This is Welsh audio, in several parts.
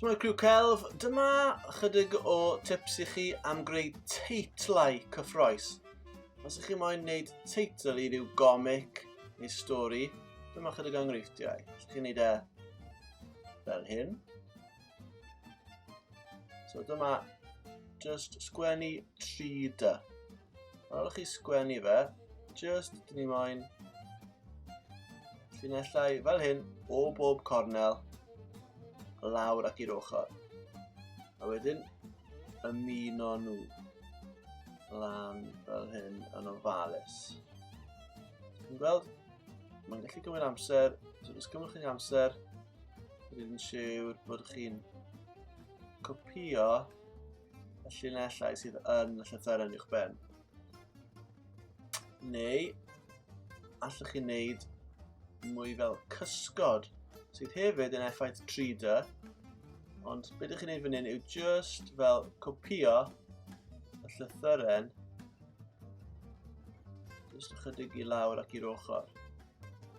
Shwmae criw celf, dyma chydig o tips i chi am greu teitlau cyffroes. Os ych chi moyn wneud teitl i ryw gomic neu stori, dyma chydig o enghreifftiau. Ych chi'n gwneud e fel hyn. So dyma just sgwennu 3 dy. Ar ôl chi sgwennu fe, just dyn ni moyn llinellau fel hyn o bob cornel lawr ac i'r ochr. A wedyn ymuno nhw lan fel hyn yn ofalus. Chi'n gweld? Mae'n gallu gymryd amser, so os gymryd chi'n amser, rydyn ni'n siŵr bod chi'n copio y llinellau sydd yn y llythyren i'ch ben. Neu, allwch chi wneud mwy fel cysgod, sydd hefyd yn effaith 3D, ond beth ydych chi'n gwneud fan hyn yw just fel copio y llythyren Just ychydig i lawr ac i'r ochr.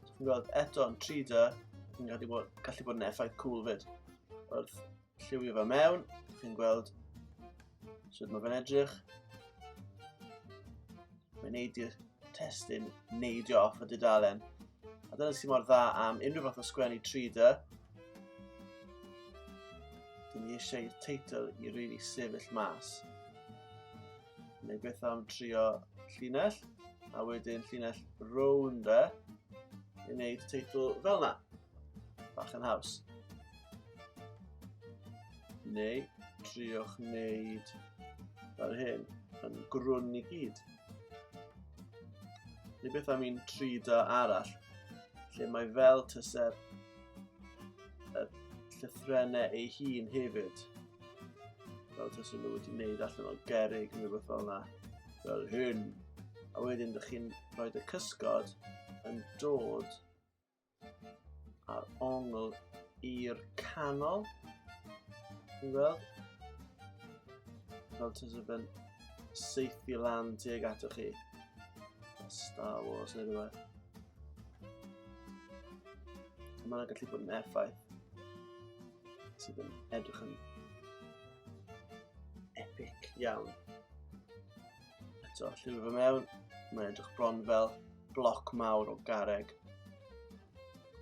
Chi'n gweld eto yn 3D, chi'n gallu bod, gallu bod yn effaith cool fyd. Wrth lliwio fe mewn, chi'n gweld sut mae fe'n edrych. Mae'n neud i'r testyn neidio off y dudalen. A dyna sy'n mor dda am unrhyw fath o sgwennu 3D. Dyn ni eisiau i'r teitl i rili really sefyll mas. Neu beth am trio llinell, a wedyn llinell rown de, i wneud teitl fel na. Bach yn haws. Neu triwch wneud fel hyn, yn grwn i gyd. Neu beth am un 3 da arall, lle mae fel tyser y llythrennau ei hun hefyd. Fel tas nhw wedi gwneud allan o gerig neu rhywbeth fel yna. Fel hyn. A wedyn ydych chi'n rhoi y cysgod yn dod a'r ongl i'r canol. Ti'n gweld? Fel ti'n sef yn seithi lan tuag atoch chi. Star Wars neu rhywbeth. Mae'n gallu bod yn effaith. sydd yn edrych yn epic iawn. Eto, llyfr fy mewn, mae'n edrych bron fel bloc mawr o gareg.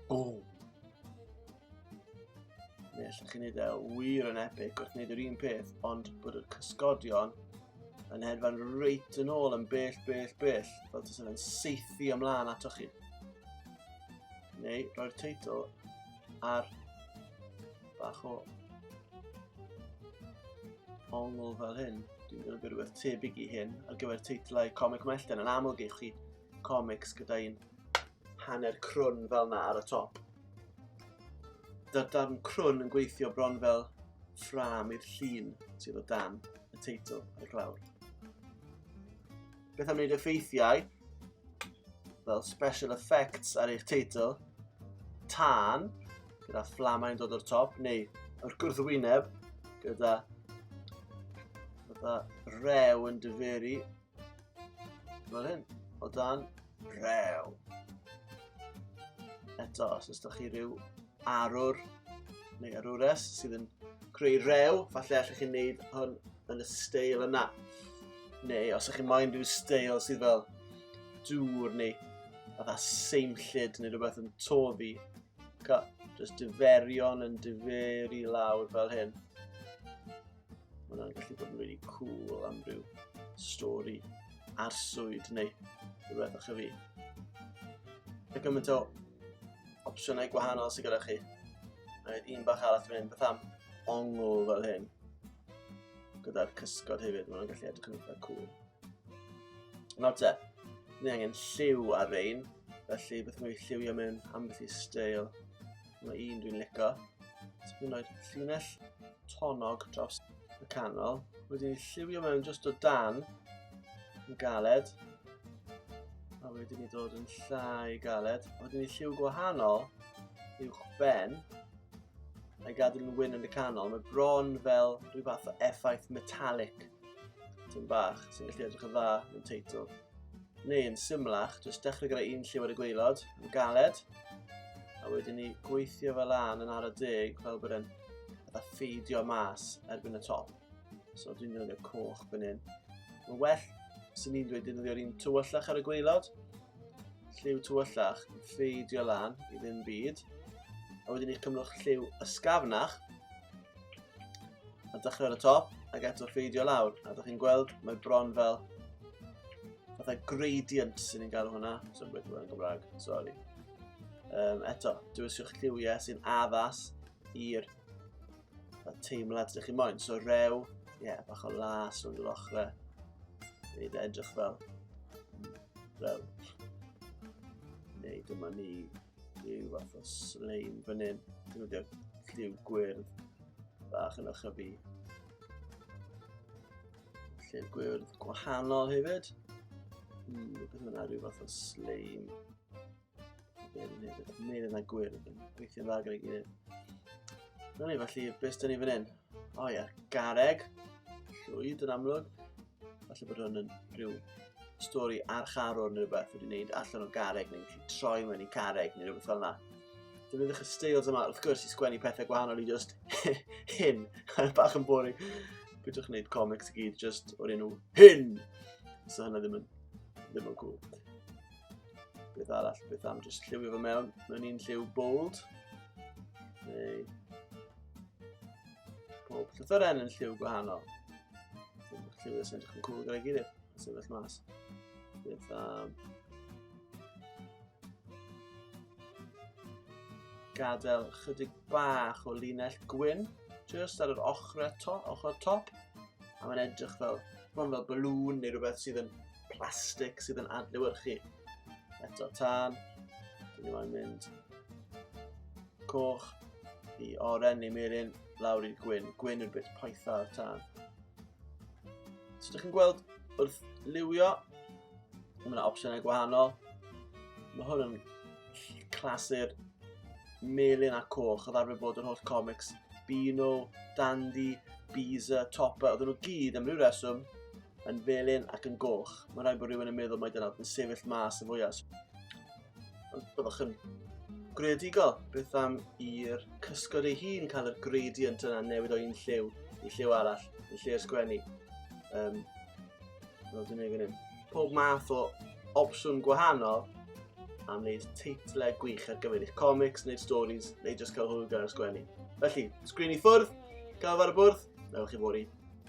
Boom! Neu allwch chi wneud e wir yn epic wrth wneud yr un peth, ond bod y cysgodion yn hedfan reit yn ôl yn bell, bell, bell, fel tas yn seithi ymlaen atoch chi. Neu, roi'r teitl ar bach o ongl fel hyn. Dwi'n gwneud rhywbeth tebyg i hyn ar gyfer teitlau comic mellten. Yn aml geich chi comics gyda un hanner crwn fel na ar y top. Dy'r darn crwn yn gweithio bron fel ffram i'r llun sydd o dan y teitl ar y glawr. Beth am wneud effeithiau fel special effects ar eich teitl, tân, gyda fflamau yn dod o'r top, neu yr gwrthwyneb, gyda fatha rew yn dyferu, fel hyn, o dan rew. Eto, os ydych chi rhyw arwr neu arwres sydd yn creu rew, falle allwch chi'n neud hwn yn y steil yna. Neu os ydych chi'n moyn rhyw steil sydd fel dŵr neu fatha seimllid neu rhywbeth yn toddi. Ca, just diferion yn diferi lawr fel hyn. Mae hwnna'n gallu bod yn really cool am ryw stori arswyd neu rhywbeth o'ch fi. Mae gymaint o opsiynau gwahanol sydd gyda chi. Mae un bach arall dwi'n mynd beth am ongl fel hyn. Gyda'r cysgod hefyd, mae'n gallu edrych yn eitha cool. Nawr te, ni angen lliw ar rein, felly beth mae'n lliwio mewn ambell i steil. Mae un dwi'n lico. Dwi'n rhoi llinell tonog dros y canol. Wedyn lliwio mewn just o dan yn galed. A wedyn i dod yn llai galed. A wedyn i lliw gwahanol uwch ben. A'i gadw'n yn wyn yn y canol. Mae bron fel rhyw fath o effaith metallic. Ti'n bach sy'n gallu edrych yn dda yn teitl. Neu yn symlach, jyst dechrau gyda un lliw ar y gweilod, yn galed, A wedyn ni gweithio fel lan yn ar y deg fel bod e'n fatha ffeidio mas erbyn y top. So dwi'n defnyddio coch fan hyn. Mae'n well sy'n ni'n dweud defnyddio'r un tywyllach ar y gweilod. Lliw tywyllach yn ffeidio lan i ddim byd. A wedyn ni'r cymrwch lliw ysgafnach. A dechrau ar y top, ac eto ffeidio lawr. A da chi'n gweld, mae bron fel fatha gradient sy'n ni'n galw hwnna. So'n beth yn Gymraeg, sori. Um, eto, dywysiwch lliwiau sy'n addas i'r teimlad ydych chi moyn. So rew, ie, yeah, bach o las o'n yr ochrau. Neu edrych fel rew. Neu dyma ni Rhyw fath o sleim fan hyn. Dwi'n wedi lliw gwyrdd bach yn ochr fi. Lliw gwyrdd gwahanol hefyd. Hmm, beth yna rhyw fath o sleim. Dwi'n meddwl yna gwyrdd yn gweithio'n dda gyda'i gilydd. Rwy'n ni felly, beth dyn ni fan hyn? O ie, gareg. Llwyd yn amlwg. Falle bod hwn yn rhyw stori archarwr neu rhywbeth wedi wneud allan o gareg neu wedi troi mewn i careg neu rhywbeth fel yna. Defnyddwch y styles yma wrth gwrs i sgwennu pethau gwahanol i just hyn. Bach yn boring. Bydwch yn gwneud comics i gyd just o'r enw hyn. So hynna ddim yn, ddim yn cool. Beth arall, beth am just lliwio fo mewn, mewn un lliw bold. Neu Pob llythyren yn lliw gwahanol. Dyma'r lliw sy'n edrych yn cwl gyda'i gilydd, yn sefyll mas. Bydd um, gadael chydig bach o linell gwyn, just ar yr ochr eto, ochr top, a mae'n edrych fel, mae'n fel balŵn neu rhywbeth sydd yn plastig sydd yn adlewyrchu. Eto tân, dyn ni moyn mynd coch i oren neu melyn lawr i'r gwyn. Gwyn yw'r bit poetha o'r tân. So ydych chi'n gweld wrth liwio, mae yna opsiynau gwahanol. Mae hwn yn clasur melyn a coch, oedd arfer bod yr holl comics Beano, Dandy, Beezer, Topper, oedden nhw gyd am ryw reswm yn felyn ac yn goch. Mae'n rhaid bod rhywun yn meddwl mae dyna yn sefyll mas y fwyaf. Ond byddwch yn greadigol beth am i'r cysgod ei hun cael y gradient yna newid o un lliw i lliw arall yn lle ysgwennu. Um, no, dwi'n ei fyny. Pob math o opsiwn gwahanol am wneud teitlau gwych ar gyfer eich comics, neu stories, neu jyst cael hwyl gan ysgwennu. Felly, sgrin i ffwrdd, cael fawr y bwrdd, newch chi fori.